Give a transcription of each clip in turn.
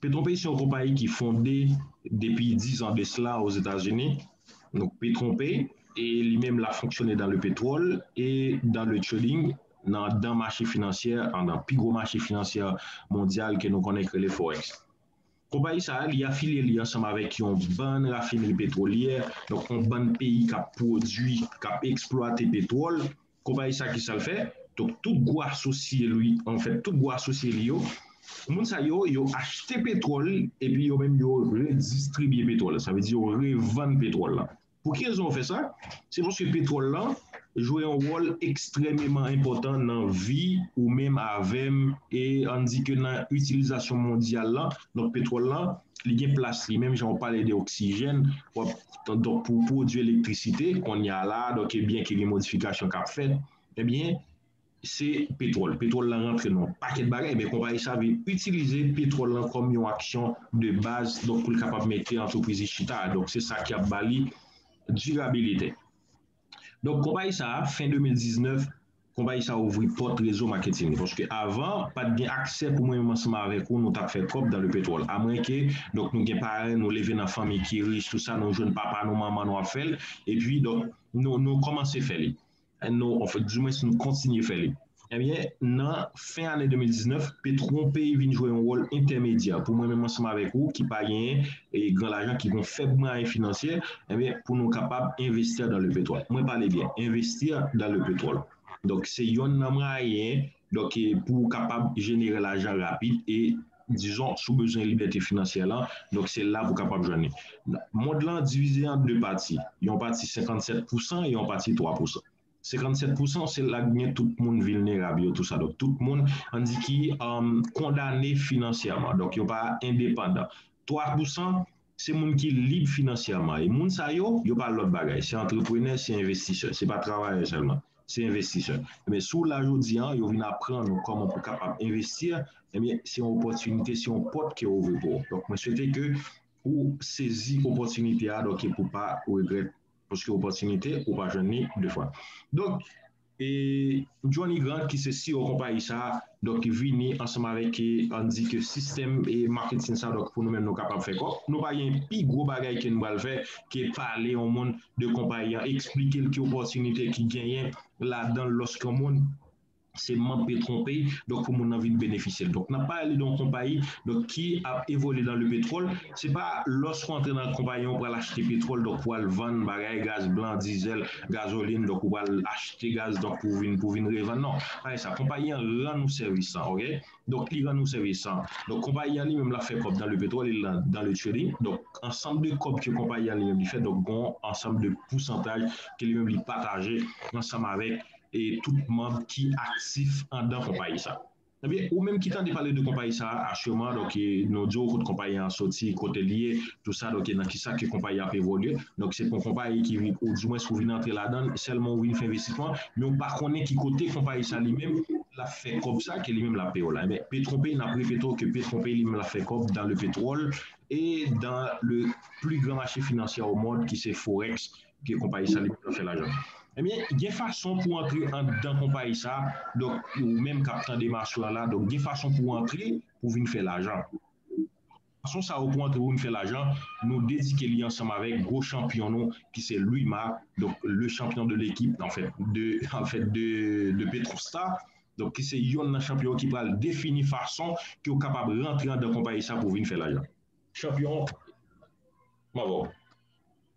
Petronpey se yon konpayi ki fonde depi 10 ans de cela aux Etats Unis, donc Petronpey e li menm la fonksyone dans le pétrole et dans le trading nan dan mache finansyè an nan pi gwo mache finansyè mondyal ke nou konnen ki rele forex. Konpayi sa a li afilye li ansanm avèk yon bann rafinri petwolyè, donc yon bann peyi kap pwodwi, kap eksplwate petwòl, Kobay sa kisal fè? Donk tout gwo asosye l wi anfèt tout gwo asosye li yo moun sa yo yo achte petwòl epi yo menm yo redistribye petwòl sa vle di yo revann petwòl lan pou ki rezon yo fè sa se paske petwòl lan jwe yon wòl ekstrèmeman enpòtan nan vi ou menm avèm e ann di ke nan itilizasyon mondyal lan donk petwòl lan li gen plas li menm jan ou pale de oksijèn wap donk pou pwodui elektrisite kounye a la a, donk e byen ke gen modifikasyon k'ap fèt, e byen se petwòl, petwòl la rantre nan yon pakèt bagay, e byen konpayi sa vle itilize petwòl lan kòm yon aksyon de baz, donk pou l' kapab mete antrepriz li chita a, donk se sa ki ap ba li dirabilite. Donk konpayi sa fen 2019 konpayi sa ouvri pòt rezo maketin li paske avan pat gen aksè pou mwen menm ansanm avèk ou nou tap fè kòb dan le petwòl amwenke donk nou gen paren nou leve nan fanmi ki rich tout sa nou jwenn papa nou manman nou ap fèl epi donk nou nou kòmanse fè li nou di mwens nou kontinye fè li. Ebyen, nan fen ane 2019, Petron peyi vin jwe yon wòl entèmedyè pou mwen menm ansanm avèk ou ki pa genyen gran lajan, ki gon fèb mwayen finansyè, ebyen pou nou kapab investir dans le pétrole. Mwen pale byen, investir dans le pétrole. Donk se yonn nan mwayen donk pou ou kapab jenere lajan rapid e dizon si w bezwen libète finansyè lan, donk se la pou kapab jwenn li. Mond lan divize an 2 pati, yon pati 57 pousan e yon pati 3 pousan. 57 pousan se la gen tout moun vilnerab yo tou sa donk tout moun an di ki kondane finansyèman donk yo pa endepandan 3 pousan se moun ki lib finansyèman e moun sa yo yo pa lòt bagay se antreprenè se envestisè se pa travayè sèlman se envestisè ebyen si w la jodi an yo vin aprann ou kòman pou kapab envesti ebyen se yon opòtinite se yon pòt ke ouvri pou ou donk mwen swete ke ou sezi opòtinite a donk e pou pa regrèt. Paske opòtinite ou pa jwenn li 2 fwa. Donk, e Johnny Grant ki se CEO konpayi sa, donk ki vini ansanm avèk e ann di ke sistèm e marketing sa donk pou nou menm nou kapab fè kòb. Nou pa gen pi gwo bagay ke nou pral fè ke pale yon moun de konpayi an, eksplike l ki opòtinite ki genyen ladan l lòske yon moun se manb pe tronpe donk pou moun nan vin benefisyel donk nap pale de yon konpayi donk ki ap evolye dan le petròl se pa lòske w antre nan konpayi an ou pral achte petròl donk pou al vann bagay gaz blan dizèl gazolin donk ou pral achte gaz donk pou vin pou vin revann non pa gen sa konpayi an rann ou sèvis an ok donk li rann ou sèvis an donk konpayi an li menm lap fè kòb dan le petròl e lan dan le trading donk ansanm de kòb ke konpayi an li menm li fè donk gon ansanm de pousantaj ke li menm li pataje ansanm avèk tout manb ki aktif andan konpayi sa. Ebyen ou menm ki tande pale de konpayi sa Assurmart ok nou diw kot konpayi an soti kotel ye tout sa ok nan kisa ke konpayi ap evolye donk se pou konpayi ki vin ou di mwens ou vin antre ladann sèlman ou vin fè envestisman men ou pa konnen ki kote konpayi sa li menm lap fè kòb sa ke li menm lap peyew la ebyen petronpay nap repetew ke petronpay li menm lap fè kòb dan le petròl e dan le pli gran mache finansyè o mond ki se forex ke konpayi sa li paka fè lajan ebyen gen fason pou antre andan konpayi sa donk ou menm kap tande maswè la donk gen fason pou antre pou vin fè lajan fason sa yo pou antre pou vin fè lajan nou dedike li ansanm avèk gwo chanpyon nou ki se Luyma donk le chanpyon de lekip anfèt de anfèt de de Petrostar donk ki se yonn nan chanpyon ki pral defini fason ke ou kapab rantre andan konpayi sa pou vin fè lajan chanpyon m avèw.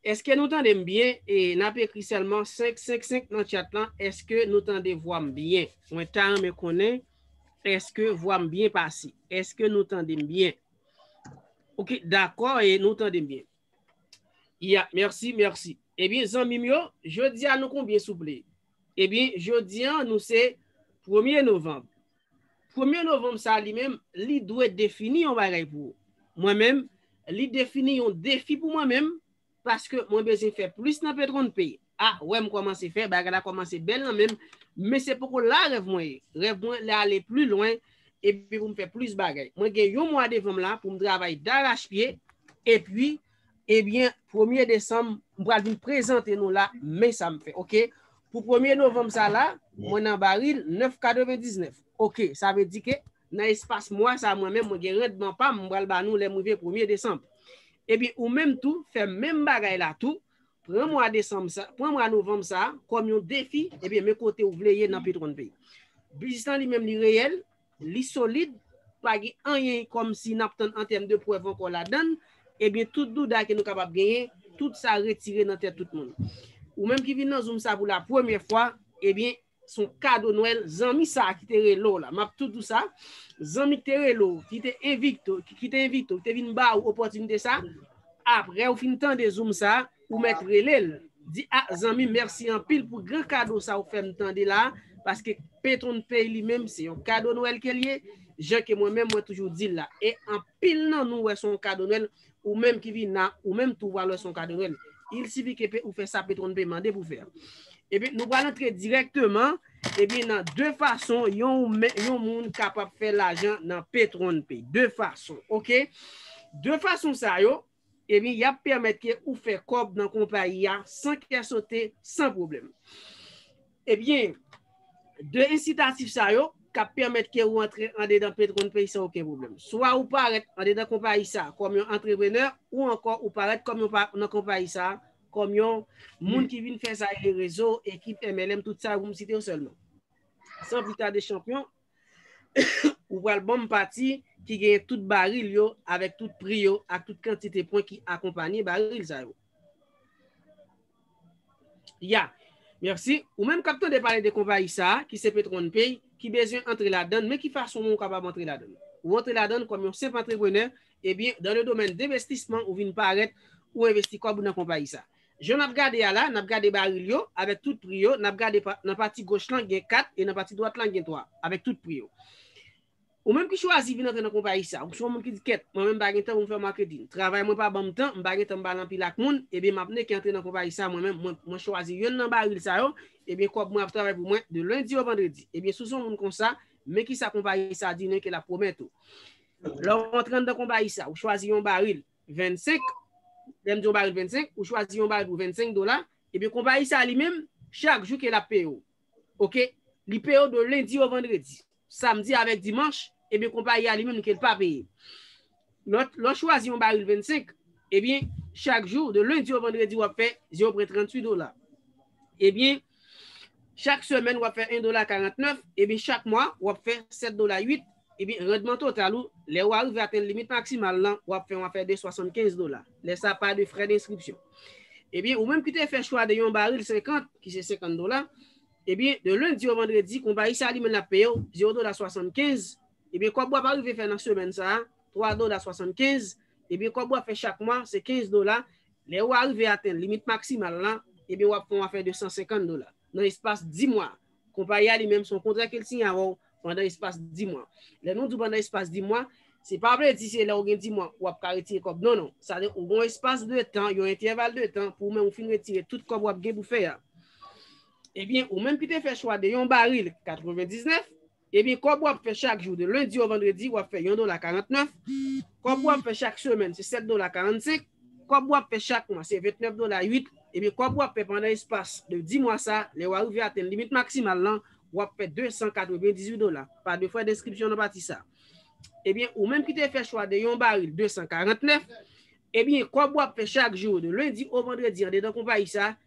Eske nou tandem byen e nap ekri selman 5 5 5 nan chat lan eske nou tande vwam byen mwen ta renmen konnen eske vwam byen pase eske nou tandem byen ok dakò e nou tandem byen ya merci merci ebyen zanmim yo jodia nou konbyen souple ebyen jodia nou se premye novanb Premye novanm sa a li menm, li dwe defini yon bagay pou ou. Mwen menm, li defini yon defi pou mwen menm, paske mwen bezwen fè plis nan PetronP. A, wè m kòmanse fè, bagay la kòmanse bèl nan menm, men se poko la rèv mwen ye. Rèv mwen le ale pli lwen, epi pou m fè plis bagay. Mwen gen yon mwa devan m la pou m travay darachpye, epi Ebyen premye desanm m pral vin prezante nou la men sa m fè ok pou premye novanm sa la mwen nan baril 9 99 ok sa vle di ke nan espas mwa sa mwen menm mwen gen randman pam m pral ba nou lèm rive premye desanm ebyen ou menm tou fè menm bagay la tou pran mwa desanm sa pran mwa novanm sa kòm yon defi ebyen men kote ou vle ye nan petronpay biznis lan li menm li reyèl. Li solid, pa gen anyen kòmsi nap tann an tèm de prèv ankò ladann, ebyen tout douda ke nou kapab genyen, tout sa retire nan tèt tout moun. Ou menm ki vin nan zoom sa pou la premyè fwa, ebyen son kado nwèl zanmi sa ki te rele w la, map tou di w sa, zanmi ki te rele w, ki te envite w, ki te vin ba ou opòtinite sa, aprè ou fin tande zoom sa, Ou mèt relel. Di ah zanmim merci anpil pou gran kado sa ou fèm tande la paske Petron pay li menm se yon kado nwèl kel ye jan ke mwen menm mwen toujou dil la e anpil nan nou wè son kado nwèl ou menm ki vin la ou menm tou pral wè son kado nwèl il sifi ke pe ou fè sa Petron pay mande pou fè ebyen nou pral antre dirèkteman ebyen nan 2 fason yon yon moun kapab fè lajan nan Petron pay 2 fason ok 2 fason sa yo Ebyen yap pèmèt ke ou fè kòb nan konpayi a san kè sote, san pwoblèm. Ebyen, 2 ensitatif sa yo kap pèmèt ke ou antre andedan PetronPay san oken pwoblèm. Swa ou parèt andedan konpayi sa kòm yon antreprenè ou ankò ou parèt kòm yon nan konpayi sa kòm yon moun ki vin fè sa rele rezo, ekip, MLM, tout sa yo pou m site yo sèlman. San pli tade chanpyon, Ou pral banm pati ki genyen tout baril yo avèk tout pri yo ak tout kantite pwen ki akonpanye baril sa yo. Ya, mèsi. Ou menm k ap tande pale de konpayi sa a, ki se Petronpay, ki bezwen antre ladan l, men ki fason ou kapab antre ladan l? Ou antre ladan l kòm yon senp antreprenè, ebyen, dan le domèn denvestisman ou vin parèt, ou envesti kòb ou nan konpayi sa a. Jan nap gade a la, nap gade baril yo, avèk tout pri yo, nap gade nan pati goch lan gen 4 e nan pati dwat lan gen 3, avèk tout pri yo. Ou menm ki chwazi vin antre nan konpayi sa, ou se yon moun ki di kèt, mwen menm m pa gen tan pou m fè marketing, travay mwen pa banm tan, m pa gen tan pou m pale anpil ak moun, ebyen map neke antre nan konpayi sa mwen menm, mwen chwazi yonn nan baril sa yo, ebyen kòb mwen ap travay pou mwen de lundi au vendredi. Ebyen si w se yon moun konsa, men kisa konpayi sa di neke lap pwomèt ou. Lè w antre anndan konpayi sa, ou chwazi yon baril, 25, lè m di yon baril 25, ou chwazi yon baril pou 25 dola, ebyen konpayi sa li menm, chak jou ke l ap peye w. Ok? Li peye w de lendi o vandredi. Samdi avèk dimanch, ebyen konpayi a li menm ke l pa peye. Lè w chwazi yon baril 25, ebyen chak jou, de lendi o vandredi w ap fè, je w pran 38 dola. Ebyen, Chak semèn wap fè 1 dola 49, ebyen chak mwa wap fè 7 dola 8, ebyen randman total ou lè ou arive atenn limit maksimal lan wap fè yon afè de 75 dola, lè sa pa de frè denskripsyon. Ebyen ou menm ki te fè chwa de yon baril 50, ki se 50 dola, ebyen de lendi o vandredi konpayi sa li menn ap peye ou 0 dola 75, ebyen kòb wap arive fè nan semèn sa 3 dola 75, ebyen kòb wap fè chak mwa se 15 dola, Lè ou arive atenn limit maksimal la, ebyen wap fè yon afè de 150 dola nan espas 10 mwa. Konpayi a li menm se yon kontra ke l siyen avè w pandan espas 10 mwa. Lè nou di w pandan espas 10 mwa, se pa vle di se lè ou gen 10 mwa wap ka retire kòb non non. Sa vle di ou gen yon espas de tan, yon entèval de tan pou ou menm ou fin retire tout kòb wap gen pou fè a. Ebyen ou menm ki te fè chwa de yon baril 99, Ebyen kòb wap fè chak jou de lundi au vendredi wap fè yon dola 49, kòb wap fè chak semèn se 7 dola 45, kòb wap fè chak mwa se 29 dola 8, ebyen kòb wap fè pandan espas de 10 mwa sa lè wa rive atenn limit maksimal lan wap fè 298 dola pa de frè denskripsyon nan pati sa ebyen ou menm ki te fè chwa de yon baril 249 ebyen kòb wap fè chak jou de lundi au vendredi andedan konpayi sa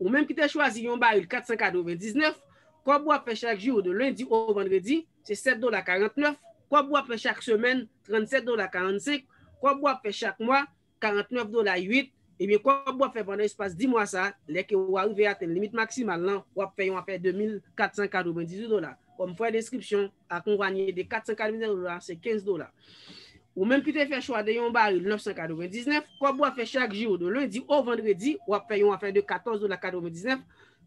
Ou menm ki te chwazi yon baril 499, kòb ou ap fè chak jou de lendi o vandredi, se 7 dola 49, kòb ou ap fè chak semèn, 37 dola 45, kòb ou ap fè chak mwa, 49 dola 8, ebyen kòb ou ap fè pandan espas dimwa sa, lè ke ou arive atenn limit maksimal lan, ou ap fè yon afè 2498 dola. Kòm frè denskripsyon, akonpanye de 480 dola, se 15 dola. Ou menm ki te fè chwa de yon baril 999, kòb wap fè chak jou, de lendi o vandredi, wap fè yon afè de 14 dola 99,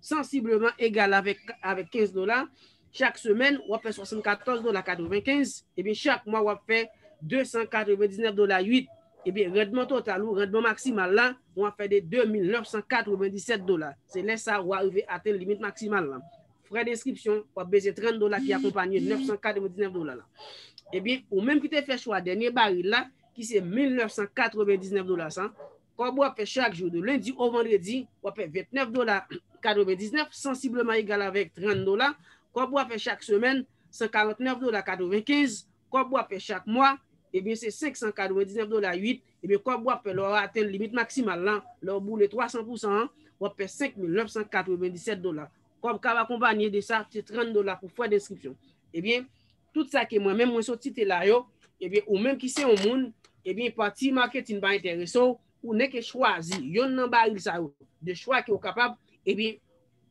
sansibleman egal avèk 15 dola, chak semèn wap fè 74 dola 95, ebyen chak mwa wap fè 299 dola 8, ebyen randman total ou, randman maksimal la, wap fè de 2997 dola. Se lè sa ou arive atenn limit maksimal la. Frè de enskripsyon, w ap bezwen 30 dola ki akonpanye 999 dola la. Ebyen, ou menm ki te fè chwa dènye baril la, ki se 1999 dola sa, kòb w ap fè chak jou de lendi o vandredi, w ap fè 29 dola 99, sansibleman egal avèk 30 dola, kòb w ap fè chak semèn, 149 dola 95, kòb w ap fè chak mwa, ebyen se 599 dola 8, ebyen kòb w ap fè lè w atenn limit maksimal la, lè w boule 300 pousan an, w ap fè 5997 dola. Kòb kab akonpanye de sa se 30 dola pou frè denskripsyon. Ebyen, tout sa ke mwen menm mwen sot site la yo, ebyen ou menm ki se yon moun, ebyen pati marketing pa enterese w, ou nèke chwazi yonn nan baril sa yo, de chwa ke ou kapab, ebyen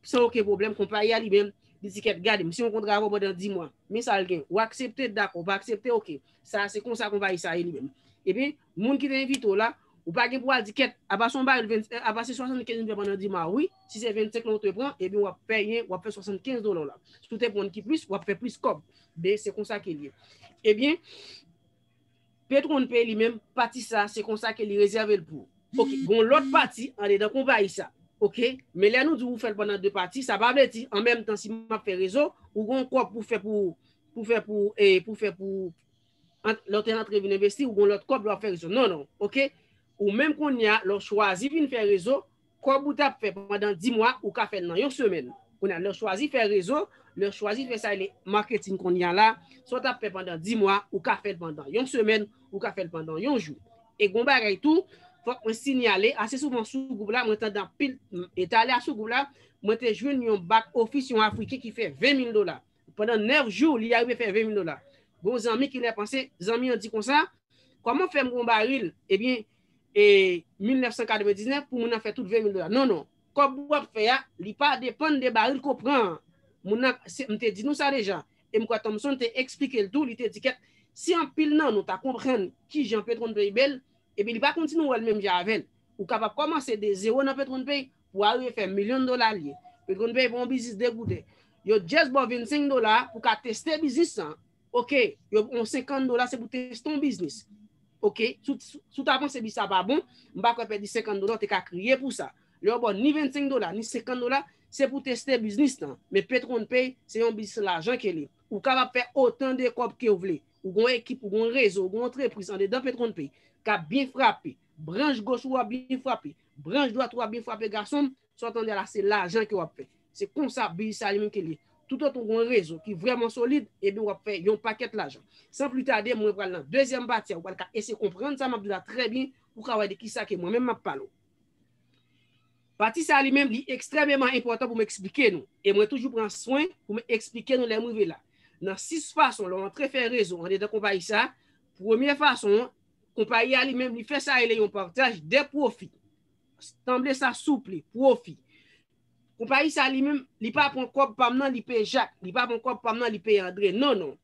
san oken pwoblèm konpayi a li menm, li di kèt gade m si yon kontra avè w pandan 10 mwa, men sa l gen, ou aksepte, dakò, ou pa aksepte, ok, sa se konsa konpayi sa ye li menm. Ebyen, Moun ki te envite w la, ou pa gen pou al di kèt, apa se yon baril 20, apa se 75 m fè pandan dima wi, si se 25 lan ou te pran, ebyen w ap pèyen, w ap fè 75 dola w la. Si w te pran ki plis, w ap fè plis kòb. Be, se konsa ke l ye. Ebyen, petwon pay li menm, pati sa, se konsa ke li rezève l pou. Ok, gen yon lòt pati andedan konpayi sa. Ok, men lè nou di ou fè l pandan 2 pati, sa pa vle di, an menm tan si m ap fè rezo, ou gen yon kòb pou fè pou, pou fè pou, pou fè pou, Ant lè w te antre vin envesti, ou gen yon lòt kòb lè w ap fè rezo. Non, non. Ok? Ou menm kounye a, lè w chwazi vin fè rezo, kòb ou t ap fè pandan di mwa, ou ka fè l nan yon semèn. Kounye a, lè w chwazi fè rezo, lè w chwazi fè sa yo rele marketing kounye a la, sa w t ap fè pandan di mwa, ou ka fè l pandan yon semèn, ou ka fè l pandan yon jou. E gen yon bagay tou, fòk mwen sinyale, ase souvan sou gwoup la, mwen tande anpil, e talè a sou gwoup la, mwen te jwenn yon back office yon Afriken ki fè 20 mil dola. Pandan 9 jou, li arive fè 20 mil dola. Gen yon zanmi ki lè panse, zanmi an di konsa, Kòman fè m gen yon baril, ebyen, e 1999 pou moun nan fè tout 20 mil dola? Non, non. Kòb w ap fè a, li pa depann de baril ke w pran an. Moun nan, se, m te di nou sa deja. E m kwè Thompson te eksplike l tou, li te di kèt, si anpil nan nou ta konprann ki jan PetronPay bèl, ebyen li pa konn si nou wè l menm jan avè l. Ou kapab kòmanse de zewo nan PetronPay, Pou a rive fè milyon dola liye. Yo t konn peye pou yon biznis 2 gouden. Yo just baw 25 dola pou ka teste biznis lan. Ok, yo yon 50 dola se pou teste yon biznis. Ok, si w ta panse biznis sa pa bon, m pa kwè pèdi 50 dola w te ka kriye pou sa. Lè yo baw ni 25 dola, ni 50 dola, se pou teste biznis lan. Men pay t konn pay, se yon biznis lajan ke li. Ou kapab fè otan de kòb kew vle. Ou gon ekip, ou gon rezo, ou gon antrepriz andedan pay t konn pay. Kap byen frape. Branch goch ou a byen frape. Branch dwat ou a byen frape gasonm, sa w tande la se lajan ke w ap fè. Se konsa biznis sa li menm ke l ye. Toutotan ou gen yon rezo ki vrèman solid, ebyen w ap fè yon pakèt lajan. San pli tade mwen pral nan dezyèm pati a ou pral ka eseye konprann sa m ap di w la trè byen pou ka wè de ki sa ke mwen menm m ap pale w. Pati sa li menm li ekstrèmeman enpòtan pou m eksplike nou e mwen toujou pran swen pou m eksplike nou lè m rive la. Nan 6 fason lè w antre fè rezo andedan konpayi sa, premye fason an, Konpayi a li menm li fè sa rele yon partaj dè pwofi. Sanble sa souple, pwofi. Konpayi sa li menm, li pa pran kòb pa m nan li peye Jak, li pa pran kòb pa m nan li peye Andre. Non, non.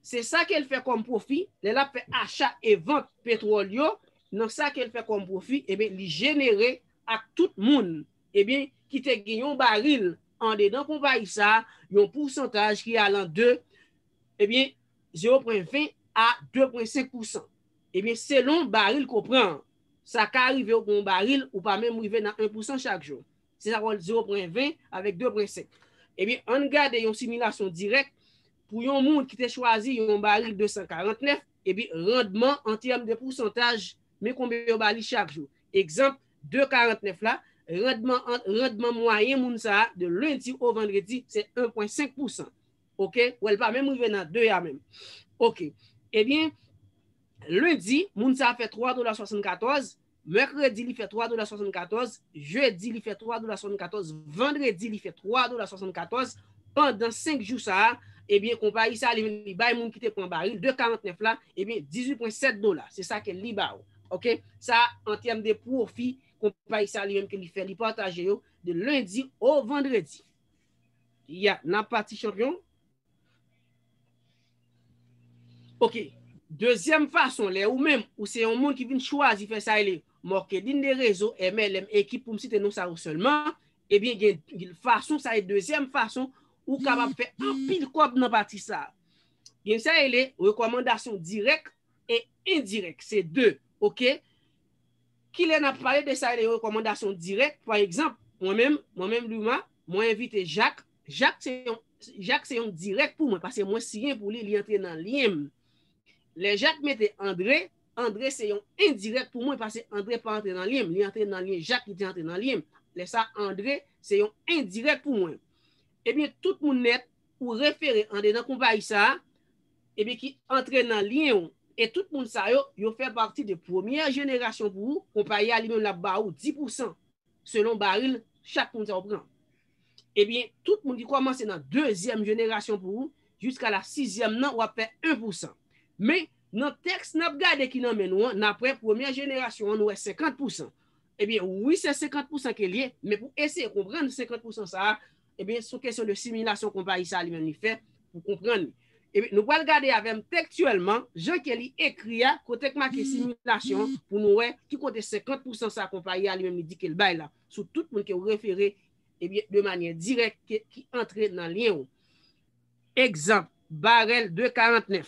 Se sa ke l fè kòm pwofi, lè l ap fè acha e vant petwòl yo, nan sa ke l fè kòm pwofi, ebyen li jenere ak tout moun, ebyen ki te gen yon baril andedan konpayi sa, yon pousantaj ki alan de, ebyen, 0.20 a 2.5 pousan. Ebyen selon baril ke w pran an. Sa ka rive w gen yon baril ou pa menm rive nan 1 pousan chak jou. Se sa fè w 0.20 avèk 2.5. Ebyen ann gade yon similasyon dirèk pou yon moun ki te chwazi yon baril 249, ebyen randman an tèm de pousantaj men konbyen yo ba li chak jou. Egzanp 2.49 la, randman an randman mwayen moun sa a de lendi o vandredi se 1.5 pousan. ok wè li pa menm rive nan 2 a menm ok ebyen lendi moun sa fè 3 dola 74 mèkredi li fè 3 dola 74 jedi li fè 3 dola 74 vandredi li fè 3 dola 74 pandan 5 jou sa ebyen konpayi sa li li bay moun ki te pran baril 2.49 la ebyen 18.7 dola se sa ke li ba ou ok sa an tèm de pwofi konpayi sa li menm ke li fè li pataje yo de lendi o vandredi. Ya nan pati chanpyon. Ok. Dezyèm fason lè ou menm ou se yon moun ki vin chwazi fè sa rele marketing de rezo, MLM, ekip pou m site non sa yo sèlman, ebyen gen fason sa e dezyèm fason ou kapab fè anpil kòb nan pati sa. Gen sa rele rekòmandasyon dirèk e endirèk. Se 2. Ok. Kilè n ap pale de sa rele rekòmandasyon dirèk, pa egzanp, mwen menm, mwen menm Duma, mwen envite Jak, Jak se yon, Jak se yon dirèk pou mwen paske mwen siyen pou li, li antre nan lyen m. Lè Jak mete Andre, Andre se yon endirèk pou mwen pase Andre pa antre nan lyen m, li antre nan lyen Jak ki te antre nan lyen m. Lè sa a Andre se yon endirèk pou mwen. Ebyen tout moun nèt ou refere andedan konpayi sa a, epi ki antre nan lyen ou, e tout moun sa yo, yo fè pati de premyè jenerasyon pou ou, konpayi a li menm l ap ba ou 10 pousan selon baril chak moun sa yo pran. Ebyen, tout moun ki kòmanse nan dezyèm jenerasyon pou ou jiska la sizyèm nan w ap fè 1 pousan. Men, nan tèks n ap gade ki nan men nou an, n ap wè premyè jenerasyon an nou wè 50 pousan. Ebyen, wi se 50 pousan ke l ye, men pou eseye konprann 50 pousan sa a, Ebyen son kesyon de similasyon konpayi sa li menm li fè pou konprann li. Ebyen nou pral gade avèm tektyèlman jan ke li ekri a kote k make similasyon an pou nou wè ki kote 50 pousan sa konpayi a li menm li di ke l bay la sou tout moun ke ou refere ebyen de manyè dirèk ke ki antre nan lyen ou. Egzanp, barèl de 49.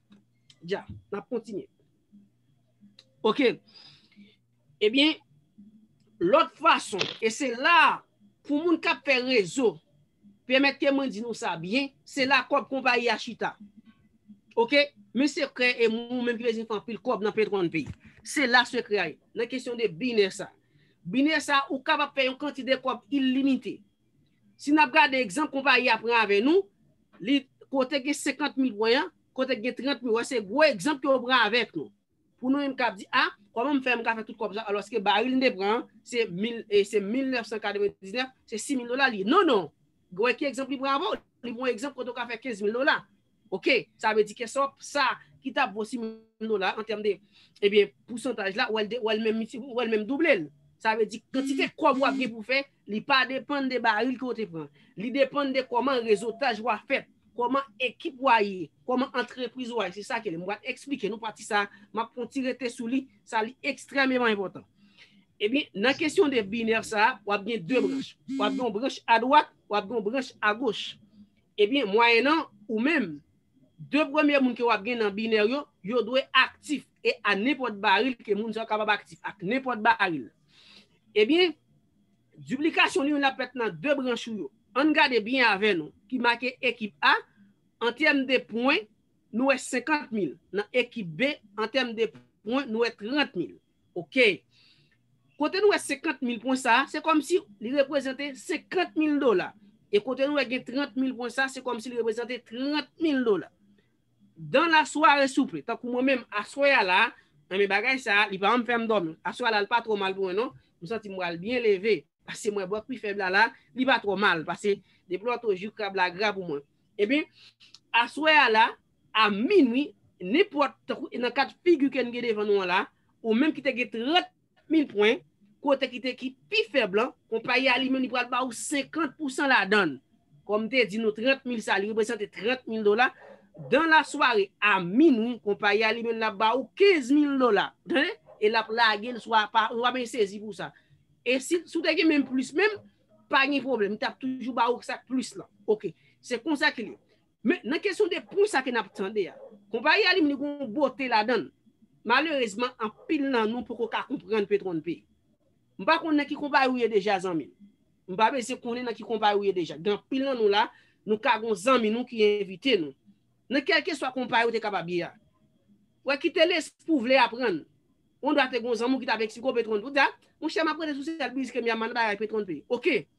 Dja, n ap kontinye. Ok. Ebyen, lòt fason, e se la a, pou moun k ap fè rezo, pèmète mwen di nou sa byen, se la kòb konpayi a chita. Ok? Men sekrè e moun menm ki bezwen fè anpil kòb nan Petron peyi. Se la sekrè a ye, nan kesyon de binè sa. Binè sa, ou kapab fè yon kantite kòb ilimite. Si n ap gade egzanp konpayi a pran avè nou, li kote gen 50 mil pwen an, kote gen 30 mil, wè se gwo egzanp ke yo pran avèk nou. Pou nou menm k ap di, a, kòman m fè m ka fè tout kòb sa alòske baril m te pran an, se 1999, se 6 mil dola li ye. Non, non! Gen wè ki egzanp li pran avè w, li pran yon egzanp kote ou ka fè 15 mil dola. Ok, sa vle di kesop sa ki ta vo 6 mil dola an tèm de, ebyen pousantaj la wèl menm doublel. Sa vle di kantite kòb wap gen pou fè li pa depann de baril ke w te pran. Li depann de kòman rezotaj ou a fèt, kòman ekip ou a ye, kòman antrepriz ou a ye. Se sa ke li. M pral eksplike nou pati sa, map fon ti rete sou li, sa li ekstrememan enpòtan. Ebyen nan kesyon de binè sa, wap gen 2 branch. Wap gen yon branch adwat, wap gen yon branch agoch. Ebyen, mwayennan ou menm, de premye moun ke wap gen nan binè yo, yo dwe aktif e a nenpòt baril ke moun sa yo kapab aktif ak nenpòt baril. Ebyen, diplikasyon li menm lap fèt nan de branch ou yo. Ann gade byen avè nou, ki make ekip A, an tèm de pwen, nou wè 50 mil, nan ekip B, an tèm de pwen, nou wè 30 mil. Ok. Kote nou wè 50 mil pwen sa a, se kòm si li reprezante 50 mil dola. E kote nou wè gen 30 mil pwen sa a, se kòm si li reprezante 30 mil dola. Dan la sware souple, tankou mwen menm aswè a la, an men bagay sa a, li pa janm fè m dòmi. Aswè a la, li pa twò mal pou mwen non. M santi m pral byen leve. Pase m wè bòk pi fèb la la, li pa twò mal. Pase depi lò tou jou krab la gra pou mwen. Ebyen, aswè a la, a minwi, nenpòt, tankou nan ka de figi ke n gen devan nou an la, ou menm ki te gen 30 mil pwen, kote ki te ki pi fèb lan, konpayi a li menm li pral ba ou 50 pousan ladan l. Kòm m te di nou 30 mil sa li reprezante 30 mil dola, dan la sware, a minwi, konpayi a li menm l ap ba ou 15 mil dola. Ou tande? E l ap lage l sou apa, ou pa bezwen sezi pou sa. E si, si w te gen menm plis menm, pa gen pwoblèm, li t ap toujou ba ou sa k plis lan. Ok. Se konsa ke l ye. Men, nan kesyon de pri sa ke n ap tande a, konpayi alim li gen yon bote ladan l. Malerezman, anpil nan nou poko ka konprann Petron P. M pa konn nan ki konpayi ou ye deja zanmi m. M pa bezwen konnen nan ki konpayi ou ye deja. Gen anpil nan nou la, nou ka gen yon zanmi nou ki envite nou. Nan kèlkeswa konpayi ou te kapab ye a. Wè ki te lespri ou vle aprann. Ou andwa te gen yon zanmi ou ki t ap eksplike w Petron P. Ou di a, monchè m ap rete sou sèl biznis ke m ye a, m pa nan bagay Petron P. Ok!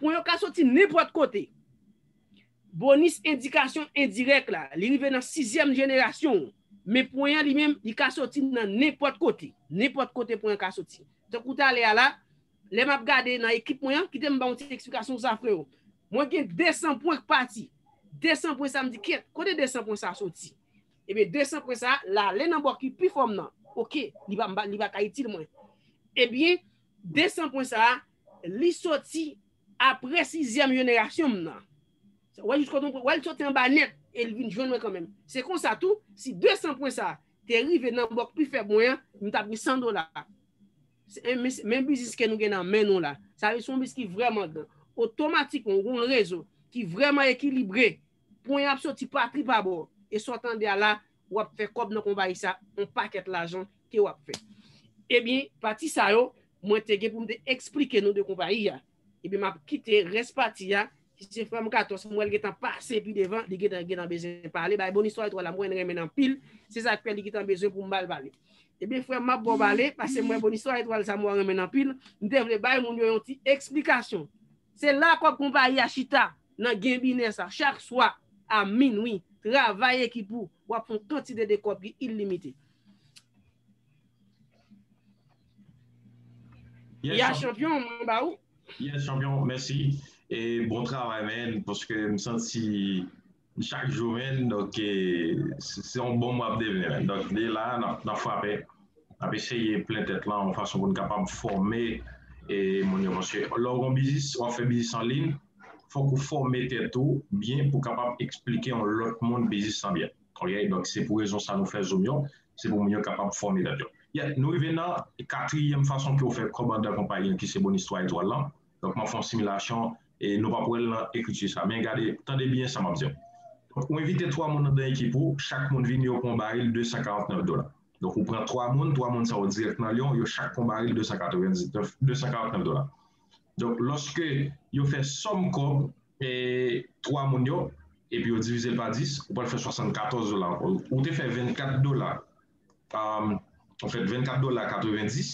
Pwen yo ka soti nenpòt kote. Bonis endikasyon endirèk la, li rive nan sizyèm jenerasyon ou. Men pwen an li menm, li ka soti nan nenpòt kote. Nenpòt kote pwen an ka soti. Tankou talè a la, lè m ap gade nan ekip mwen an, kite m ba w yon ti eksplikasyon sou sa freo. Mwen gen 200 pwen k pati. 200 pwen sa m di kèt, kote 200 pwen sa soti? Ebyen 200 pwen sa, l ale nan bò ki pi fò m nan. Ok, li pa ka itil mwen. Ebyen 200 pwen sa, Li soti apre sizyèm jenerasyon m nan. Wè jiskot mwen wè l soti anba nèt e l vin jwenn mwen kanmenm. Se konsa tou, si 200 pwen sa a te rive nan bòk pi fèb mwen an, m t ap gen 100 dola. Men biznis ke nou gen nan men nou la. Sa vle di se yon biznis ki vrèman gran. Otomatikman, ou gen yon rezo ki vrèman ekilibre. Pwen an ap soti pa tri pa bò. E sa w tande a la, wap fè kòb nan konpayi sa on pakèt lajan ke wap fè ebyen pati sa yo mwen te gen poum te eksplike nou de konpayi ya ebyen map kite rès pati ya ki se frèm katòs mwèl gentan pase pi devan li gentan gentan bezwen pale bay bon istwa etwal la mwen renmenn anpil se sak fè li gentan bezwen poum bal pale ebyen frèm map baw pale pasem wè bon istwa etwal sa mwen renmenn anpil mte vle bay moun yo yon ti eksplikasyon. Se la kòb konpayi a chita nan genbine sa chak swa a minwi. Travay ekip ou, w ap fè yon kantite de kòb ki ilimite. Ya chanpyon, mwen ba ou. Yes chanpyon, mèsi. E bon travay men, paske m santi Chak jou men donk se yon bonm wap devni men donk li la nap frape nap eseye plen tèt lan yon fason pou n kapab fòme e moun yo paske lè w gon biznis wap fè biznis an liy fòk ou fòme tèt ou byen pou kapab esplike yon lòt moun biznis lan byen ok donk se pou rezon sa nou fè zoom yo se pou moun yo kapab fòme tèt yo yè nou rive nan katriyèm fason pou yo fè kòb andan konpayi an ki se Bonistwa Etwal lan. Donk map fè yon similasyon e nou pap wèl nan ekriti sa men gade tande byen sa map diw. Donk ou envite 3 moun andan ekip ou, chak moun vini yo pran yon baril 249 dola. Donk ou pran 3 moun, 3 moun sa yo dirèk nan Lyon, yo chak pran baril 299, 249 dola. Donk lòske yo fè sòm kòb e 3 moun yo epi yo divizel pa 10, ou pral fè 74 dola ankò. Ou te fè 24 dola Ou fè 24 dola 90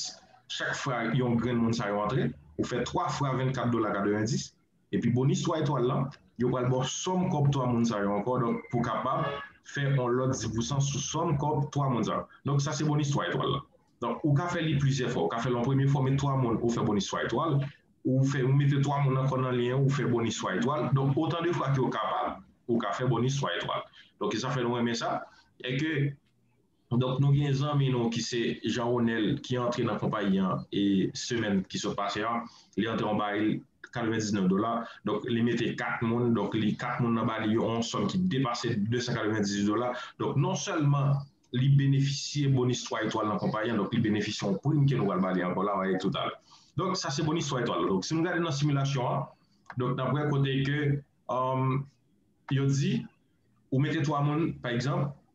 chak fwa yon grenn moun sa yo antre, ou fè 3 fwa 24 dola 90 epi bonis 3 etwal lan yo pral baw sòm kòb 3 moun sa yo ankò donk pou kapab fè yon lòt 10 pousan sou sòm kòb 3 moun sa yo donk sa se bonis 3 etwal lan donk ou ka fè li plizyè fwa ou ka fè l yon premye fwa ou met 3 moun ou fè bonis 3 etwal ou fè ou mete 3 moun ankò nan lyen ou fè bonis 3 etwal donk otan de fwa ke ou kapab ou ka fè bonis 3 etwal donk e sa fè nou renmen sa e ke Donk nou gen zanmi nou ki se Jean Ronel ki antre nan konpayi an e semèn ki sot pase a, li antre yon baril 99 dola, donk li mete 4 moun, donk li 4 moun nan ba li yon sòm ki depase 298 dola, donk non sèlman li benefisye bonis 3 etwal nan konpayi an, donk li benefisye yon prim ke nou pral pale ankò la, wale toutalè. Donk sa se bonis 3 etwal la, donk si nou gade nan similasyon an, donk nap wè kote ke yo di ou mete 3 moun pa egzanp,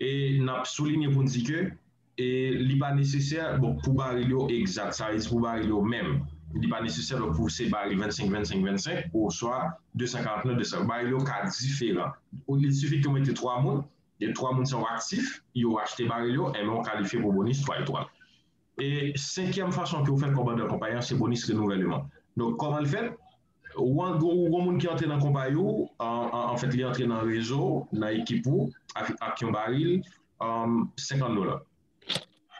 E n ap soulinye pou n di ke li pa nesesè bon pou baril yo egzat, sa vle di pou baril yo menm, li pa nesesè donk pou se baril 25, 25, 25 oswa 249, 200. Baril yo ka diferan. Il sifi ke w mete 3 moun, e 3 moun sa yo aktif, yo achte baril yo, enben ou kalifye pou bonis 3 etwal. E senkyèm fason ke ou fè kòmandan konpayi an se bonis renouvèleman. Donk kòman l fèt? Ou gon moun ki antre nan konpayi ou, anfèt li antre nan rezo ou, nan ekip ou ak yon baril 50 dola.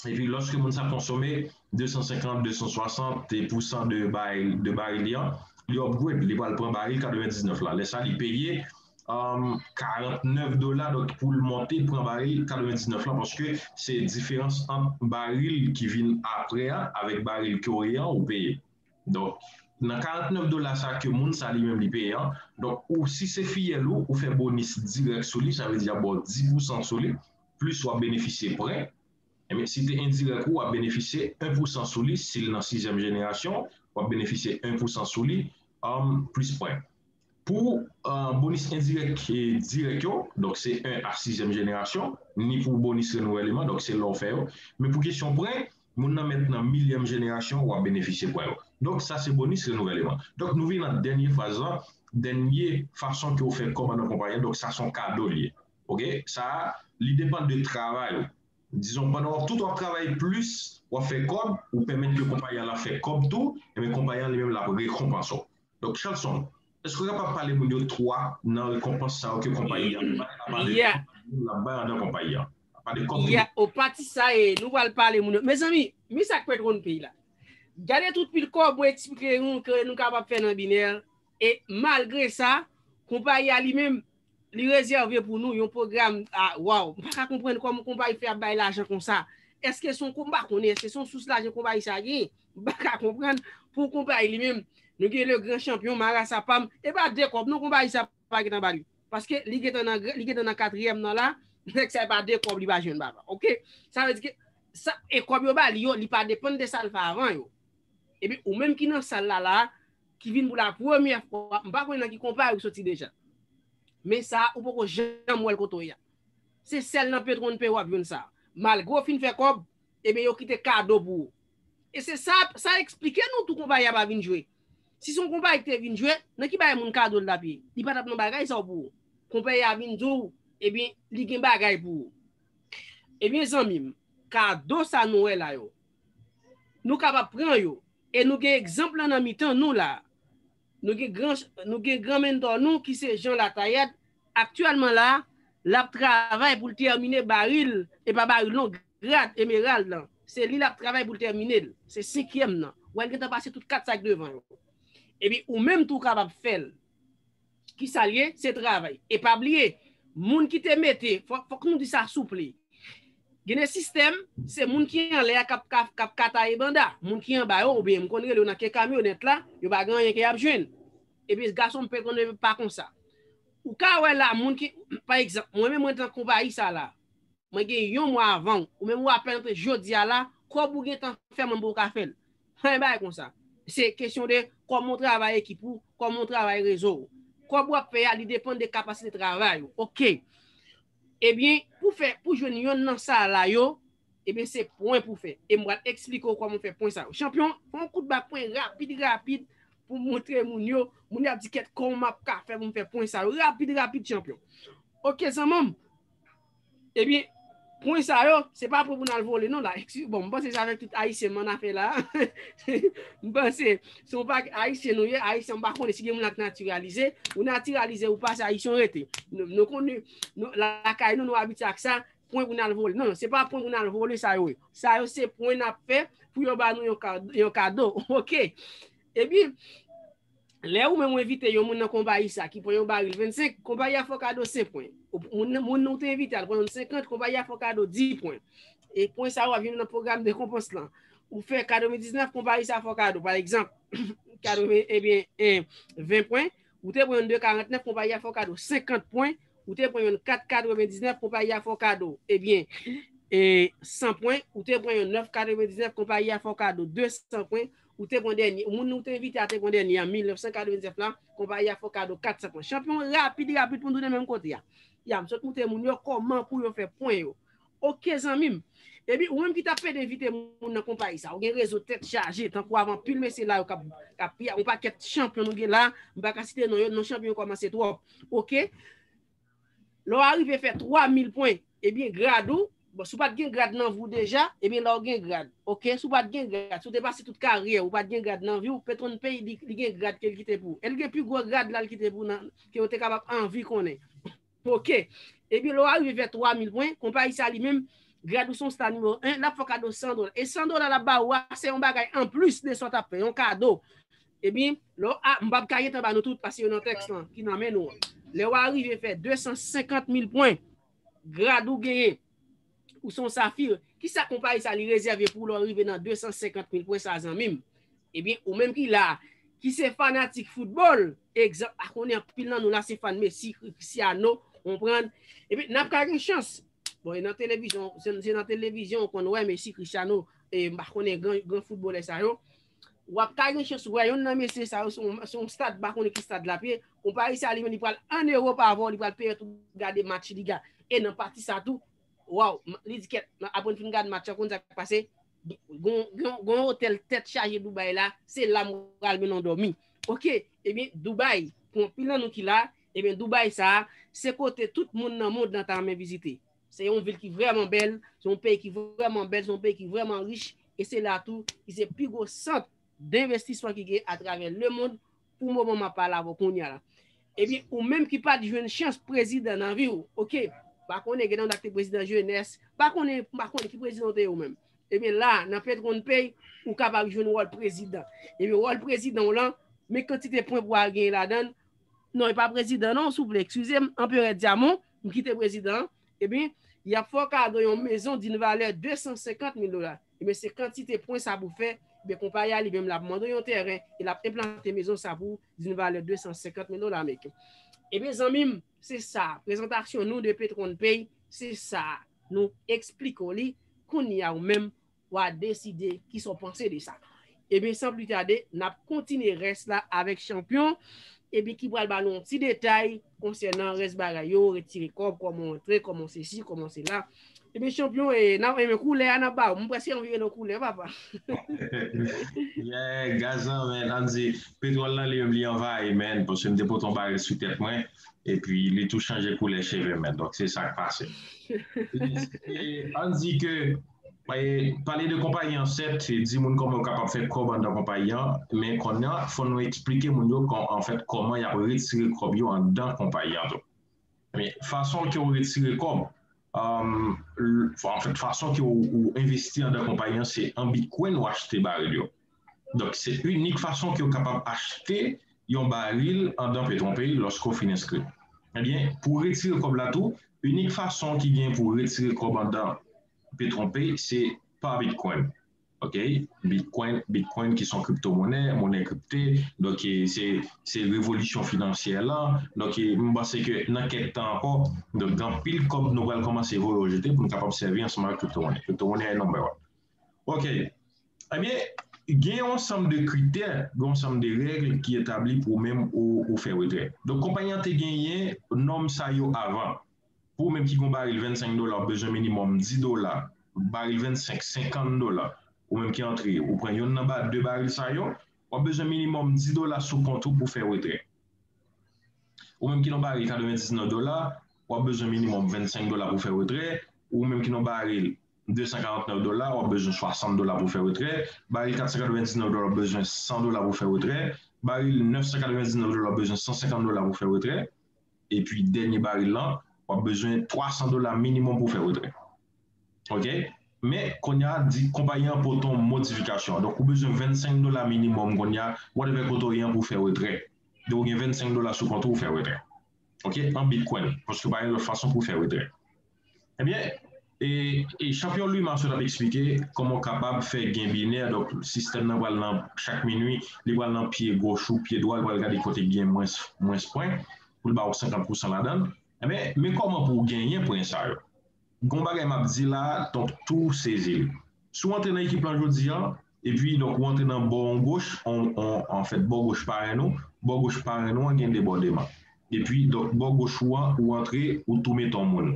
Epi lòske moun sa konsome 250, 260 pousan de baril li an, li upgrade, li pral pran baril 99 la. Lè sa li peye 49 dola donk pou l monte pran baril 99 la paske se diferans ant baril ki vin apre a avèk baril ke ou ye an ou peye. Donk nan 49 dola sa ke moun sa li menm li peye an, donk ou si se fiyèl ou, ou fè bonis dirèk sou li, sa vle di y ap ba w 10 pousan sou li, plis w ap benefisye prè. Enben si te endirèk ou, w ap benefisye 1 pousan sou li, si l nan sizyèm jenerasyon, w ap benefisye 1 pousan sou li, plis prè. Pou bonis endirèk e dirèk yo, donk se 1 a sizyèm jenerasyon, ni pou bonis renouvèleman, donk se lè ou fè yo, men pou kesyon prè, moun nan mèt nan milyèm jenerasyon ou ap benefisye pwen yo. Donk sa se bonis renouvèleman. Donk nou vin nan dènye fraz lan, dènye fason ke ou fè kòb anndan konpayi an, donk sa son kado li ye. Ok, sa li depann de travay ou. Dizon pandan wap tout wap travay plis wap fè kòb, ou pèmèt ke konpayi an la fè kòb tou, enben konpayi an li menm lap rekonpanse w. Donk Shelson, èske w kapab pale moun yo 3 nan rekonpans sa yo ke konpayi an bay apa de kòb moun la bay andan konpayi an? Apa de kòb moun la bay? Pati sa e nou pral pale moun yo. Mezanmi, men sa k pèt wonn peyi la. Gade tout pil kòb mwen eksplike nou ke nou kapab fè nan binè e malgre sa konpayi a li menm Li rezève pou nou yon pwogram ah waww m paka konprann kòman konpayi fè ap bay lajan konsa èske son m pa konnen èske son sous lajan konpayi sa genyen m paka konprann pou konpayi li menm nou gen le gran chanpyon marasa pam e pa de kòb non konpayi sa pa gentan ba li paske li gentan nan li gentan nan katriyèm nan la nèg sa e pa de kòb li pa jwenn papa ok sa vle di ke sa e kòb yo ba li yo li pa depann de sa l fè avan yo epi ou menm ki nan sal la la. Ki vin pou la premyè fwa, m pa konnen nan ki konpa yo soti deja. Men sa a ou poko janm wè l kote w ye a. Se sèl nan Petron P w ap jwenn sa a. Malgre w fin fè kòb, eben yo kite kado pou ou. E se sa, sa eksplike nou tou konpayi a pa vin jwe. Si se yon konpayi ki te vin jwe, nan ki bay moun kado l t ap ye? Li pa t ap nan bagay sa yo pou ou. Konpayi a vin di w, eben li gen bagay pou ou. Eben zanmi m, kado sa nou wè la yo, Nou kapab pran yo. E nou gen egzanp lan nan mitan nou la. Nou gen gran nou gen gran menntò nou ki se Jean Latayat, aktyèlman la, l ap travay pou l tèmine baril, e pa baril non, grad emerald lan. Se li l ap travay pou l tèmine l. Se senkyèm nan. Wè l gentan pase tout kat sa ki devan yo. Epi ou menm tou w kapab fè l. Kisal ye? Se travay. E pa bliye, moun ki te mete, fòk nou di sa souple. Gen de sistèm, se moun ki anlè a kap ka taye banda. Moun ki anba yo, oubyen m konn rele yo nan ke kamyonèt la, yo pa gen anyen ke yap jwenn. Epi gason m pe konnen pa konsa. Ou ka wè la moun ki, pa egzanp, mwen menm mwen t nan konpayi sa la, mwen gen yon mwa avanw, ou menm ou apèn antre jodia la, kòb ou gentan fè mwen m poko ka fèl. Yon bagay konsa. Se kesyon de kòman ou travay ekip ou, kòman ou travay rezo ou. Kòb wap fè a li depann de kapasite travay ou. Ok. Ebyen, pou fè, pou jwenn yonn nan sa a la yo, ebyen se pwen pou fè. E m pral eksplike ou kòman ou fè pwen sa yo. Chanpyon, fè yon kout ba pwen rapid rapid pou m montre moun yo. Moun yo ap di kèt kòman m ap ka fè pou m fè pwen sa yo. Rapid rapid chanpyon. Ok zanman m. Ebyen, pwen sa yo, se pa pou moun al vole non la. Bon, mwen panse se avèk tout Ayisyen mwen anafè la. Mwen panse, se yon pakèt Ayisyen nou ye, Ayisyen mwen pa konnen si gen moun la ki natiralize. Ou natiralize ou pa, se Ayisyen ou rete. Nou konnen, lakay nou, nou abitye ak sa, pwen pou nou al vole. Non, se pa pwen pou nou al vole sa yo ye. Sa yo se pwen n ap fè pou yo ba nou yon kado. Ok! Ebyen! Lè ou menm ou envite yon moun nan konpayi sa ki pran yon baril 25, konpayi a fè w kado 5 pwen. Moun ou te envite al pran yon 50, konpayi a fè w kado 10 pwen. E pwen sa yo ap vin nan pwogram rekonpans lan. Ou fè 99, konpayi sa fè w kado, pa egzanp, 20 pwen. Ou te pran yon 2,49, konpayi a fè w kado 50 pwen. Ou te pran yon 4,99, konpayi a fè w kado, ebyen, 100 pwen. Ou te pran yon 9,99, konpayi a fè w kado 200 pwen. Ou te pran dènye, moun ou te envite a te pran dènye an 1999 la, konpayi a fè w kado 400 pwen. Chanpyon rapid rapid pou n tounen menm kote a. Ya, m sot montre moun yo kòman pou yo fè pwen yo. Ok zanmi m. Epi ou menm ki t ap pede envite moun nan konpayi sa, ou gen rezo tèt chaje, tankou avè anpil mesye la yo k ap, k ap, yon pakèt chanpyon nou gen la, m pa ka site non yo, non chanpyon yo kòmanse twòp. Ok. Lè w arive fè 3000 pwen, ebyen grad ou, bon si w pat gen grad nan vi w deja, ebyen la w gen grad, ok, si w pat gen grad, si w te pase tout karyè w, ou pat gen grad nan vi w, Petron pay di li gen grad ke l kite pou ou. El gen pi gwo grad la l kite pou nan ke ou te kapab anvi konnen. Ok. Ebyen lè w arive fè 3000 pwen, konpayi sa li menm, grad ou se yon sta nimewo 1, l ap fè w kado 100 dola. E 100 dola l ap ba ou a, se yon bagay anplis de sa w ta fè, yon kado. Epi, lè w a, m pap ka gentan ba nou tout paske yo nan tèks lan ki nan men nou an. Lè w a rive fè 250 mil pwen, grad ou genyen, ou se yon safir, ki sa konpayi sa li rezève pou ou lè w rive nan 250 mil pwen sa a zanmi m? Epi, ou menm ki la a, ki se fanatik foutbòl, egzanp, a konnen anpil nan nou la se fan Messi, Cristiano, konprann? Epi, n ap ka gen chans, bon e nan televizyon, se nan televizyon ou konn wè Messi, Cristiano, e m pa konnen gran foutbolè sa yo, Wap ka gen chans wè yonn nan mesye sa yo se yon stad mpa konnen ki stad lap ye yon pari sa li menm li pral an Europe avan li pral peye tout gade match li ga e nan pati sa tou waww li di kèt apre m fin gad match an konn sak pase gon yon otèl tèt chaje Dubai la se la m pral men nan dòmi ok ebyen Dubai pou anpil nan nou ki la ebyen Dubai sa se kote tout moun nan mond lan ta renmen vizite Se yon vil ki vrèman bèl, se yon peyi ki vrèman bèl, se yon peyi ki vrèman rich, e se la tou ki se pi gwo sant denvestisman ki gen atravè lemond pou moman m ap pale avè w kounye a la. Ebyen, ou menm ki pa t jwenn chans prezidan nan vi w, ok, m pa konnen gen nan nou k te prezidan jenès, m pa konnen, m pa konnen ki prezidan ou te ye ou menm. Ebyen la, nan PetronPay, ou kapab jwenn wòl prezidan. Ebyen wòl prezidan w lan, men kantite pwen pou w al genyen ladan l, non e pa prezidan non, souple, ekskize m, Anperè Dyamon, Pou kite prezidan an, ebyen, y ap fè w kado yon mezon di n valè 250 mil dola. Ebyen, se kantite pwen sa pou fè, ebyen, konpayi a li menm l ap mande w yon tèren e l ap enplante mezon sa pou w di n valè 250 mil dola ameriken. Ebyen, zanmi m, se sa, prezantasyon nou de Petronpay, se sa, nou esplike w li, kounye a ou menm, Wa deside kisa w panse de sa. Ebyen san pli tade nap kontinye rès la avèk chanpyon ebyen ki pral ba nou yon ti detay konsènan rès bagay yo, retire kòb, kòman w antre, kòman w sesi, kòman w sela. Ebyen chanpyon e nan enben koulè a nap ba w. M prèske anvi rele w koulè papa. Yeah gaz lan men an di petwòl lan li menm li anvayi men paske m te pote yon baril sou tèt mwen epi li tou chanje koulè cheve men donk se sak pase. Ebyen se an di ke Pale de konpayi an sèt, di moun kòman yo kapab fè kòb anndan konpayi an, men kounye a fò nou eksplike moun yo anfèt kòman y ap retire kòb yo anndan konpayi an tou. Men fason ke ou retire kòb, anfèt fason ke ou envesti anndan konpayi an se an bitcoin ou achte baril yo. Donk se inik fason ke w kapab achte yon baril andan Petrompey lòske w fin enskri. Ebyen, pou w retire kòb la tou, inik fason ki gen pou w retire kòb andan Petrompey se pa Bitcoin. Ok, Bitcoin, Bitcoin ki son kriptomonè, monè kripte, donk se se revolisyon finansyè lan. Donk m panse ke nan kèk tan ankò, donk gen anpil kòb nou pral kòmanse voye ou jete pou nou kapab sèvi ansanm avèk kriptomonè. Kriptomonè e number one. Ok, ebyen gen yon ansanm de kritè, gen yon ansanm de règ ki etabli pou ou menm ou fè retrè. Donk konpayi an te genyen nòm sa yo avan. Pou ou menm ki gen yon baril 25 dola ou bezwen minimòm 10 dola, baril 25, 50 dola ou menm ki antre ou pran yonn nan 2 baril sa yo, w ap bezwen minimòm 10 dola sou kont ou pou fè retrè. Ou menm ki nan yon baril 99 dola, w ap bezwen minimòm 25 dola pou fè retrè, ou menm ki nan yon baril 249 dola w ap bezwen 60 dola pou fè retrè, baril 499 dola w ap bezwen 100 dola pou fè retrè, baril 999 dola w ap bezwen 150 dola pou fè retrè, epi dènye baril lan w ap bezwen 300 dola minimòm pou fè retrè ok men kounye a di konpayi an pote yon modifikasyon donk ou bezwen 25 dola minimòm kounye a whatever kote w ye an pou fè retrè donk ou gen 25 dola sou kont ou fè retrè ok an bitcoin paske pa gen lòt fason pou fè retrè Ebyen, e chanpyon Louis Marcel ap eksplike kòman w kapab fè gen binè, donk sistèm nan pral nan chak minwi, li pral nan pye goch ou, pye dwa, li pral gade kote ki gen mwens mwens pwen pou l ba w 50 pousan ladan l. Ebyen, men kòman pou w genyen pwen sa yo. Gon bagay m ap di la, donk tou sezi l. Si w antre nan ekip lan jodi an, Epi donk ou antre nan bò on goch, on, on, anfèt bò goch paren ou, bò goch paren ou an gen debòdeman. Epi donk bò goch ou an, ou antre, ou tou met on moun.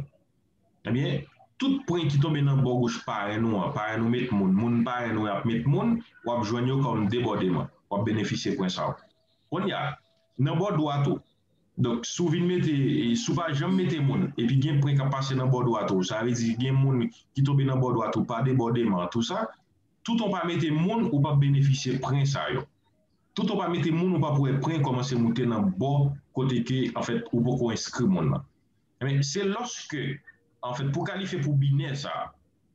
Ebyen, tout pwen ki tonbe nan bò goch paren ou an, paren ou met moun, moun paren ou ap met moun, w ap jwenn yo kòm debòdeman. W ap benefisye pwen sa yo. Kounye a, nan bò dwat ou, donk si w vin mete, si w pa janm mete moun, epi gen pwen k ap pase nan bò dwat ou, sa vle di gen moun ki tonbe nan bò dwat ou pa debòdeman, tou sa, Tout on pa mete moun ou pap benefisye pren sa yo. Tout on pa mete moun ou pap wè pren komanse moute nan bò kote ke an fèt ou poko enskri moun lan. Enben se lòske an fèt pou kalifye pou binè sa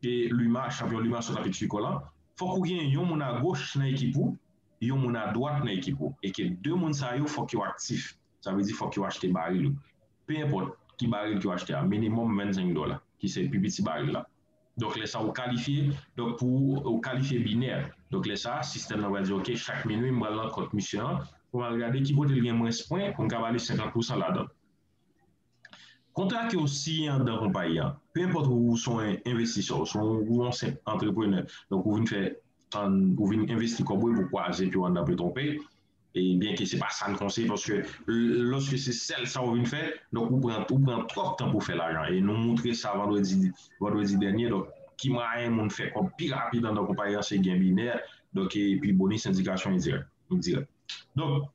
ke Luma, chanpyon Luma sot apik Sucre lan, fòk ou gen yon moun agoch nan ekip ou, yon moun adwat nan ekip ou e ke 2 moun sa yo fòk yo aktif. Sa vle di fòk yo achte baril ou. Pe enpòt ki baril ke yo achte a, minimòm 25 dòla ki se pi piti baril la. Donk lè sa ou kalifye, donk pou ou kalifye binè. Donk lè sa sistèm nan pral di ok chak minwi m pral nan kont misye an pou m al gade ki kote l gen mwens pwen pou m ka ba li 50 pousan ladan l. Kontra ke ou siyen anndan konpayi an, pe enpòt ou ou se yon envestisè, ou se yon senp antreprenè, donk ou vin fè, ou vin envesti kòb ou epi ou kwaze pye w anndan Petronpay, Byen ke se pa sa n konseye paske loske se sèl sa ou vin fè, donk ou pran ou pran twòp tan pou fè lajan e nou moutre sa vandredi vandredi dènye donk ki mwayen moun fè kòb pi rapid anndan konpayi an se gen binè donk epi bonis endikasyon endirèk endirèk donk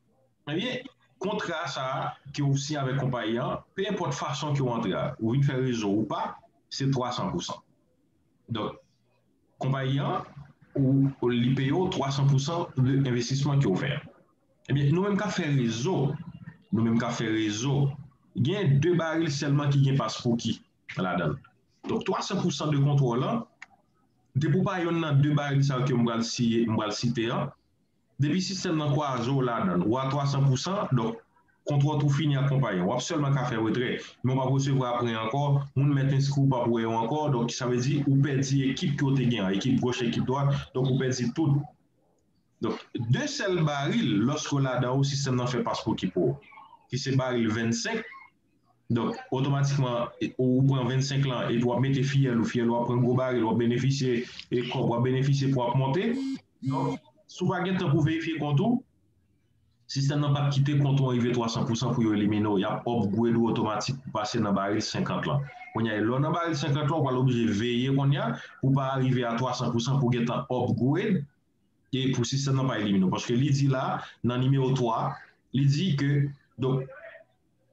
ebyen kontra sa a ke ou siyen avèk konpayi an pe enpòt fason ke ou antre a ou vin fè rezo ou pa se 300 pousan donk konpayi an ou li peye w 300 pou san de envestisman ke w fè an. Ebyen nou menm kap fè rezo, nou menm kap fè rezo gen 2 baril sèlman ki gen pas pouki ladann. Donk 300 pou san de kontwòl an depi w pa yonn nan 2 baril sa yo ke m pral siye, m pral site an, Depi sistèm nan kwaze w ladan l, w a 300 pou san, donk, kontrò tou fini ak konpayi an. W ap sèlman ka fè retrè, men w p ap resevwa apren ankò, moun mèt enskri w p ap wè yo ankò, donk sa vle di ou pèdi ekip ke w te gen an, ekip goch, ekip dwat, donk ou pèdi tout. Donk, 2 sèl baril, lòske w ladan yo, sistèm nan fè paspouki pou w, ki se baril 25, Donk, otomatikman, ou pran 25 lan epi wap mete fiyèl ou, fiyèl ou ap pran gwo baril, wap benefisye e kòb wap benefisye pou ap monte. Donk, si w pa gen tan pou verifye kont ou, sistèm nan pap kite kont ou an rive 300 pousan pou yo elimine w, yap upgrade ou otomatik pou pase nan baril 50 lan. Kounya e lè w nan baril 50 lan, ou pral oblije veye kounya pou w pa rive a 300 pousan pou w gen tan upgrade e pou sistèm nan pa elimine w. Paske li di la nan nimewo 3, li di ke, donk,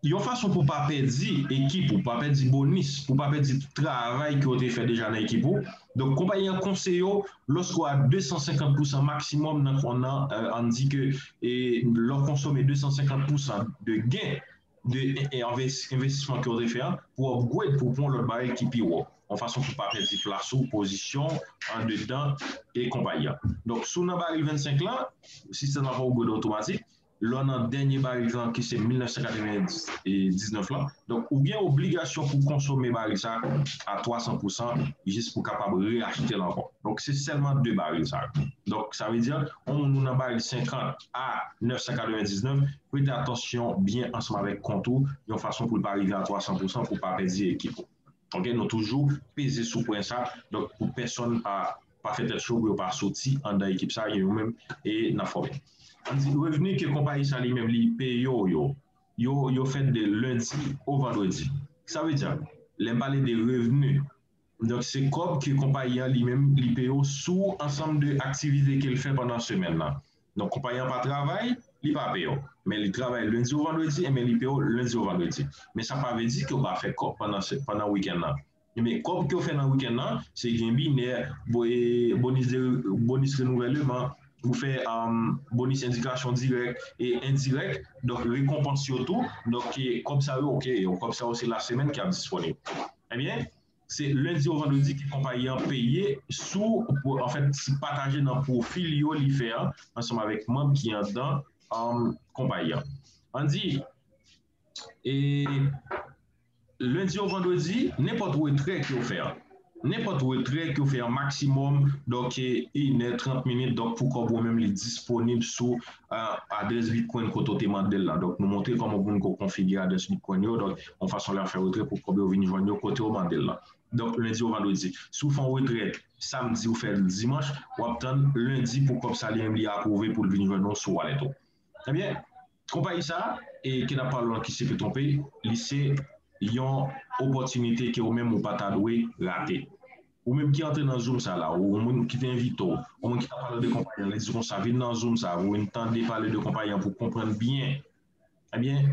Yon fason pou w pa pèdi ekip ou, pa pèdi bonis, pou w pa pèdi tout travay ke w te fè deja nan ekip ou. Donk konpayi an konseye w lòske w a 250 pousan maksimòm nan kont lan, ann di ke lè w konsome 250 pousan de gen de envestisman ke w te fè an, pou w upgrade, pou w pran yon lòt barèl ki pi wo, yon fason pou w pa pèdi plas ou, pozisyon w andedan konpayi an. Donk si w nan barèl 25 lan, sistèm lan ap upgrade otomatik. lè w nan dènye barik lan ki se 1999 lan, donk ou gen obligasyon pou konsome barik sa a 300 pousan jis pou kapab reyachte l ankò, donk se sèlman 2 barik sa yo, donk sa vle di yon moun ou nan barik 50 a 999 prete atansyon byen ansanm avèk kont ou yon fason pou l pa rive a 300 pousan pou w pa pèdi ekip ou. Ok nou toujou peze sou pwen sa donk pou pèsòn pa pa fè tèt cho pou yo pa soti andan ekip sa yo menm e nan fòme an di revni ke konpayi sa li menm li peyo yo yo yo fèt de lendi o vandredi sa vle di lèm pale de revni donk se kòb ke konpayi an li menm li peyo sou ansanm de aktivite kel fè pandan semèn nan Non konpayi an pa travay, li pa peye w. Men li travay lendi ou vandredi enben li peye w lendi ou vandredi. Men sa pa vle di ke w pa fè kòb pandan wikenn nan. Enben kòb ke w fè nan wikenn nan se gen binè, bonis renouvèleman, ou fè bonis endikasyon dirèk e endirèk, donk rekonpans yo tou, donk kòb sa yo ok, kòb sa yo se lasemèn ki ap disponib. Enben. Se lendi ou vandredi ke konpayi an peye sou, anfèt, sou pataje nan pwofi li yo li fè an ansanm avèk manm ki anndan konpayi an. An di, e lendi ou vandredi, nenpòt retrè ke ou fè an, nenpòt retrè ke ou fè an maksimòm, donk, 1 è 30 minit, donk, pou kòb ou menm li disponib sou adrès bitcoin kote ou te mandel la donk nou montre kòman pou moun ko konfigire adrès bitcoin yo donk yon fason lè ap fè retrè pou kòb yo vin jwenn yo kote ou mandel la donk lendi ou vandredi si ou fè yon retrè samdi ou fèl dimanch wap tann lendi pou kòb sa li menm li aprouve poul vin jwenn ou sou wallet ou ebyen konpayi sa e ke nap pale lan ki se petronpay li se yon opòtinite ke ou menm ou pata dwe rate. Ou menm ki antre nan zoom sa la ou yon moun ki te envite w, yon moun ki tap pale de konpayi an li di konsa vin nan zoom sa pou vin tande pale de konpayi an pou w konprann byen ebyen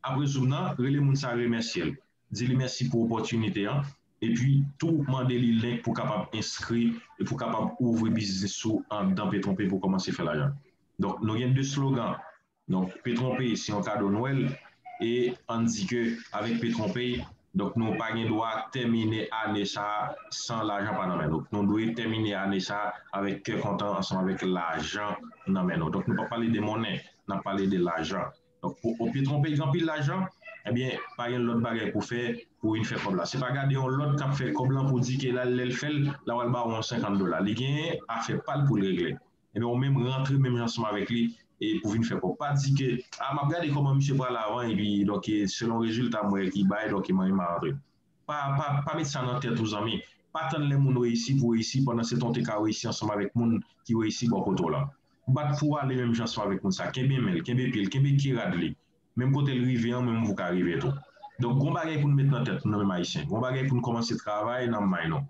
apre zoom nan rele moun sa remèsye l di li mèsi pou opòtinite an epi tou mande li link pou kapab enskri epi pou kapab ouvri biznis ou andan Petronpé pou w kòmanse fè lajan donk nou gen 2 slogan Donk Petronpay se yon kado nwèl e ann di ke avèk Petronpay donk nou pa gen dwa tèmine ane sa san lajan pa nan men nou. Nou dwe tèmine ane sa avèk kè kontan ansanm avèk lajan nan men nou. Donk nou pap pale de monnen, n ap pale de lajan. Donk pou yon Petronpay gen anpil lajan, ebyen pa gen lòt bagay pou fè pou vin fè kòb la. Se pa gade yon lòt k ap fè kòb lan pou di ke l al lè l fè l la pral ba ou yon 50 dola. Li gen afè pa l pou l regle. Ebyen ou menm rantre menm jan ansanm avèk li e pou vin fè kòb. Pa di ke a map gade kòman misye pral avan epi donk e selon rezilta m wè ki bay donk e mwen menm ma rantre. Pa pa pa met sa nan tèt ou zanmi. Pa tann lè moun reyisi pou reyisi pandan se tan ou te ka reyisi ansanm avèk moun ki reyisi bò kote w la. Bat pou w ale menm jan ansanm avèk moun sa, kenbe men l, kenbe pye l, kenbe ke rad li. Menm kote l rive an ou menm ou ka rive tou. Donk gon bagay pou nou met nan tèt nou nou menm ayisyen. Gon bagay pou nou kòmanse travay nan may nou.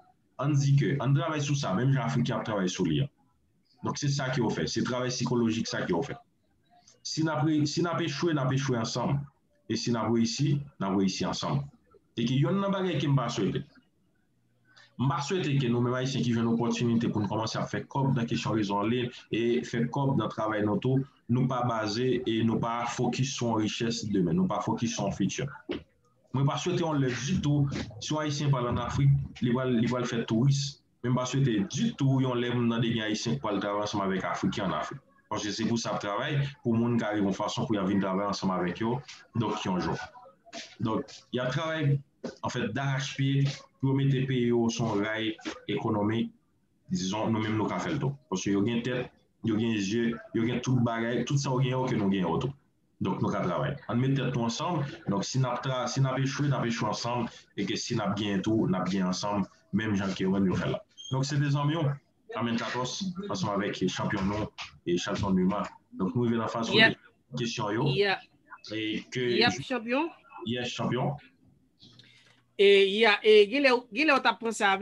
Ann di ke, ann travay sou sa, menm jan Afriken ap travay sou li an. Donk se sa ke yo fè, se travay sikolojik sa ke yo fè. Si n ap re, si n ap echwe, n ap echwe ansanm. E si n ap reyisi, n ap reyisi ansanm. E ke yonn nan bagay ke m pa swete, m pa swete ke nou menm Ayisyen ki jwenn opòtinite pou n kòmanse ap fè kòb nan kesyon rezo an liy e fè kòb nan travay nou tou, nou pa baze e nou pa fokis sou yon richès demen, nou pa fokis sou yon fiti. Mwen pa swete yon lè ditou si yon ayisyen pral an afrik li pral fè touris men m pa swete ditou yon lè m tande gen ayisyen k pral travay ansanm avèk afriken an afrik paske se pou sa y ap travay pou moun ka rive yon fason pou y ap vin travay ansanm avèk yo donk yon jan donk y ap travay anfèt darachpye pou yo mete peyi yo sou yon ray ekonomik dizon nou menm nou ka fè l tou paske yo gen tèt yo gen je yo gen tout bagay tout sa yo gen yo ke nou gen yo tou. Donk nou ka travay. Ann met tèt nou ansanm. Donk si nap tra si nap echwe nap echwe ansanm e ke si nap genyen tou nap genyen ansanm menm jan ke wèm yo fèl la. Donk se te zanmiw Amèn Katòs ansanm avèk chanpyon nou e Chalson Numa. Donk nou rive nan faz kote kesyon yo e ke Yap chanpyon. Yes chanpyon. E ya e genlè genlè ou tap pran sa avè.